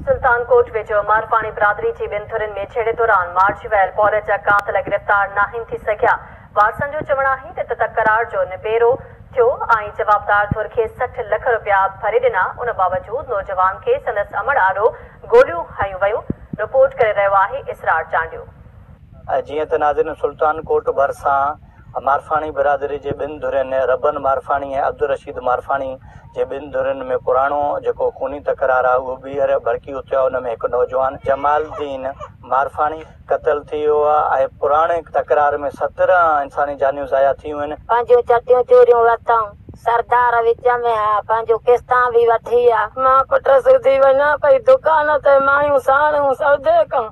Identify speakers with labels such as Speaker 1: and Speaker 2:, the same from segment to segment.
Speaker 1: سلطان ڪوٽ ويجهو مارپاڻي برادري جي ٻن ڌرين ۾ جهيڙي دوران مارجي ويل پورهيت جا قاتل گرفتار ناهن ٿي سگهيا، وارثن جو چوڻ آهي ته ته تڪرار جو نبيرو ٿيو ۽ جوابدار ڌر کي سٺ لک رپيا ڀري ڏنا، ان باوجود نوجوان کي سندس امڙ آڏو گوليون هنيون ويون، رپورٽ ڪري رهيو آهي اسرار چانڊيو. جيئن
Speaker 2: ته ناظرين سلطان ڪوٽ ڀرسان مارفاڻي برادري جي ٻن ڌرين ربن مارفاڻي ۽ عبدالرشيد مارفاڻي جي ٻن ڌرين ۾ پراڻو جيڪو خوني تڪرار آهي اهو ٻيهر ڀڙڪي اٿيو آهي ان ۾ هڪ نوجوان جمال الدين مارفاڻي قتل ٿي ويو آهي ۽ پراڻي تڪرار ۾ سترهن انساني جانيون ضايع ٿيون آهن. پنهنجيون چٽيون چوريون
Speaker 3: ورتائون سردار وچ ۾ ها پنهنجون قسطان به وٺي آ. مان پٽ سوڌي وڃان پئي دڪان تي مايون ساڻيون سودي ڪن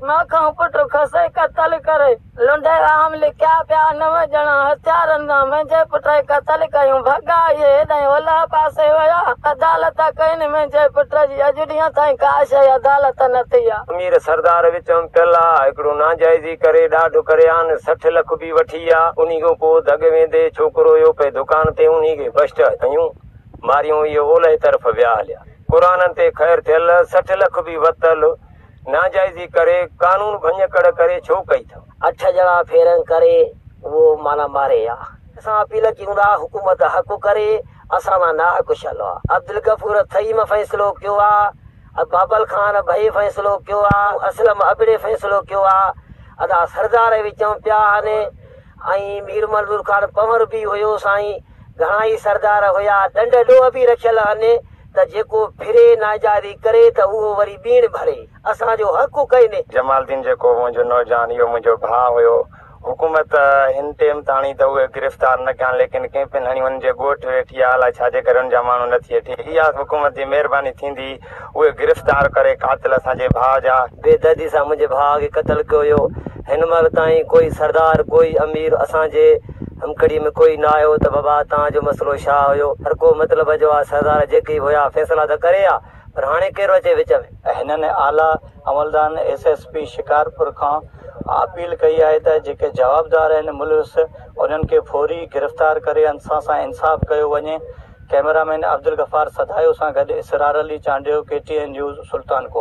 Speaker 3: مئو کان پٽ کسي قتل ڪري لنڊي عام لڪيا پيا نو ڄڻا هٿيارن سان منهنجي پٽ کي قتل ڪيون ڀڳا اهي هيڏانهن اولهه پاسي ويا عدالت ڪين منهنجي پٽ جي اڄ ڏينهن تائين ڪا شيء عدالت نه ٿي آ. امير سردار وچ
Speaker 4: م پيل آ هڪڙو ناجائزي ڪري ڏاڍ ڪري آن سٺ لک به وٺي آ انهي کان پو دڳ ويندي ڇوڪرو اهو پئي دڪان تي انهي کي بشٽ هنيون ماريون اهي اولهه طرف ويا هليا قرانن تي خير ٿيل سٺ لک به وتل ناجائزي ڪري قانون ڀڃڪڙ ڪري ڇو ڪئي ٿو. اٺ ڄڻا ڦيرنگ
Speaker 5: ڪري اهو معنيٰ ماري ها. اسان اپيل ڪيون ٿا حڪومت حق ڪري اسان سان ناحق شل ها عبدالغفور ٿهيم فيصلو ڪيو ها ۽ بابل خان ڀئي فيصلو ڪيو ها اسلم ابڙي فيصلو ڪيو ها ادا سردار اهي چون پيا هن ۽ مير منظور خان پنور به هيو سائين گهڻا ئي سردار هيا ڏنڊ ڏوهه به رکيل هن. ته جيڪو ڦري ناجائزي ڪري ته اهو وري ٻيڻ ڀري اسان جو حق ڪوئني. جمال الدين جيڪو منهنجو
Speaker 4: نوجوان اهو منهنجو ڀاء هيو. حڪومت هن ٽيم تاڻي ته اهي گرفتار نه ڪيا آهن ليڪن ڪئين پن هڻي ان جي ڳوٺ ويٺي آهي الاء ڇا جي ڪري ان جا ماڻهو نه ٿي اٿي اها حڪومت جي مهرباني ٿيندي اهي گرفتار ڪري قاتل اسان جي ڀاء جا. بي دردي سان منهنجي
Speaker 5: ڀاء کي قتل ڪيو ويو. هن مهل تائين ڪوئي سردار ڪوئي امير اسان جي همڪڙي ۾ ڪوئي نه آيو ته بابا تان جو مسئلو شا هيو هرڪو مطلب جو آ سردار جيڪي به هيا فيصلا ته ڪري آ پر هاڻي ڪير اچي وچ ۾. هنن اعليٰ
Speaker 2: عملدارن ايس ايس پي شڪارپور کان اپيل ڪئي آهي ته جيڪي جوابدار آهن ملوث انهن کي فوري گرفتار ڪري انسان سان انصاف ڪيو وڃي ڪئميرا مين عبدالغفار سدايو سان گڏ Israr Ali Chandio K T N news Sultankot.